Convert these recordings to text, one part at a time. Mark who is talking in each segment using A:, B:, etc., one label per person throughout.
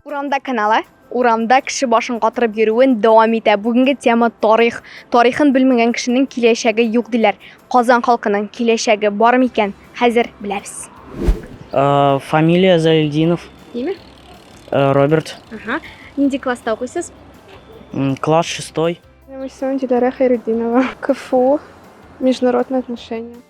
A: Урамда каналы урамда кеше башын катырып йөрүен дәвам итә. Бүгенге тема тарих. Тарихын белмәгән кешенең киләчәге юк диләр. Казан халкының киләчәге бар микән? Хәзер беләбез. Э,
B: фамилия Залильдинов. Ниме?
A: Э, Роберт.
B: Ага.
A: Нинди класста укыйсыз? Класс
B: 6. Минем исемем Диләрә
C: Хәйретдинова. КФУ. Международные отношения.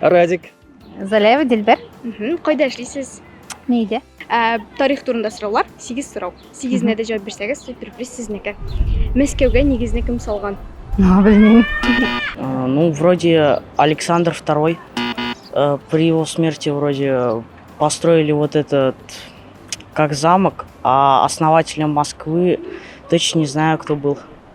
C: Радик.
B: Залева
D: Дилбер. Кайда эшлисез?
A: Нейде?
D: Ә, тарих
A: турында сораулар, 8 сорау. 8-нә дә җавап бирсәгез, сюрприз сезнеке. Мәскәүгә нигезне кем салган? Ну, белмим. Э,
B: ну, вроде Александр II. Э, при его смерти вроде э, построили вот этот как замок, а основателем Москвы точно не знаю, кто был.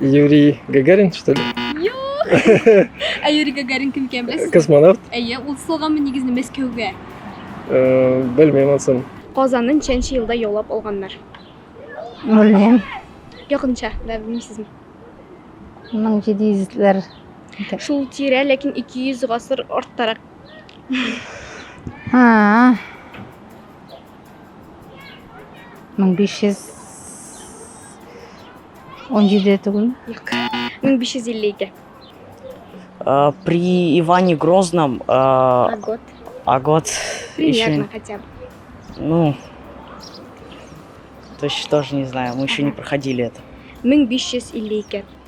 E: Юрий Гагарин, что ли? Юк!
A: Ә Юрий Гагарин кем икән беләсез? Космонавт. Әйе, ул
E: салганмы
A: нигезне Мәскәүгә? Э,
E: Белмим ансын. Казанын ничәнче
A: елда яулап алганнар?
D: Белмим. Якынча,
A: да белмисезме?
D: 1700-ләр. Шул
A: тирә, ләкин 200 гасыр арттарак. А,
D: Мең
A: биш йөз он җиде түгелме? Юк. 1552. Э,
B: При Иване Грозном... э, А год?
A: А год
B: Примерно еще... хотя
A: бы. Ну...
B: То есть тоже не знаю, мы еще не Ага. проходили это.
A: 1552.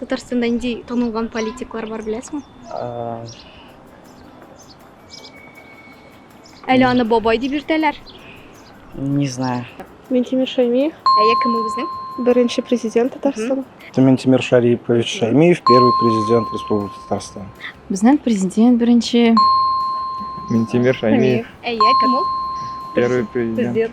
A: Татарстанда нинди танылган политиклар бар беләсеңме? Э, Әле аны бабай дип йөртәләр. Не
B: знаю. Ментимир Шаймиев,
C: Әйе, кем ул безнең?
A: беренче президент
C: Татарстан. Ментимир Шарипович
F: Шаймиев, первый президент Республики Татарстан. Безнең президент
D: беренче.
G: Ментимир Шаймиев, Әйе, кем
A: ул? первый президент.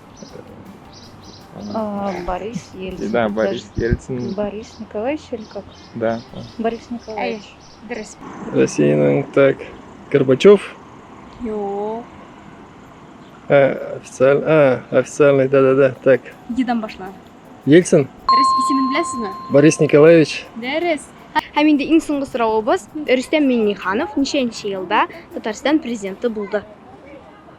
A: А,
D: Борис Ельцин. Да, Борис Ельцин.
G: Борис Николаевич
D: или как? Да. Борис
A: Николаевич.
D: Дөрес.
A: Россиянең
E: так Горбачев. Юк.
A: Э,
E: официаль, а, официальный, да-да-да, так. Едан башла.
A: Ельцин. Дөрес
E: исемен
A: беләсезме? Борис Николаевич.
E: Дөрес.
A: Һәм инде иң соңгы соравыбыз, Рөстәм Миңнеханов ничәнче елда Татарстан президенты булды?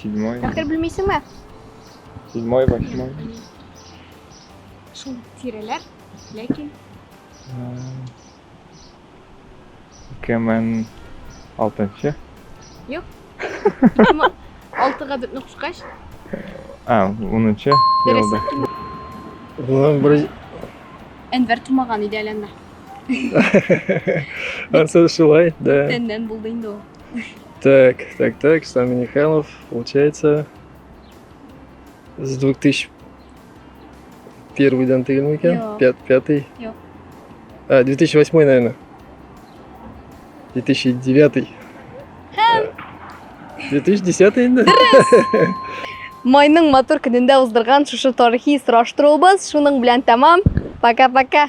A: Седьмой. Дәфтер белмисеңме?
G: Седьмой, восьмой.
A: Шул тирәләр, ләкин.
G: Ике мең алтынчы. Юк. Ике
A: мең алтыга бетне кушкач. А,
G: унынчы. Дөрес. Уның бер
A: Әнвәр тумаган иде әле анда.
E: Ансы шулай, да. Тәннән булды инде ул.
A: Так,
E: так, так, Сами Михайлов, получается, с 2000 первый дан тегелме икән? Пят,
A: пятый?
E: Юк. А, 2008, наверное. 2009. 2010 инде.
A: Майның матур көнендә уздырган шушы тарихи сораштыруыбыз шуның белән тәмам. Пока-пока.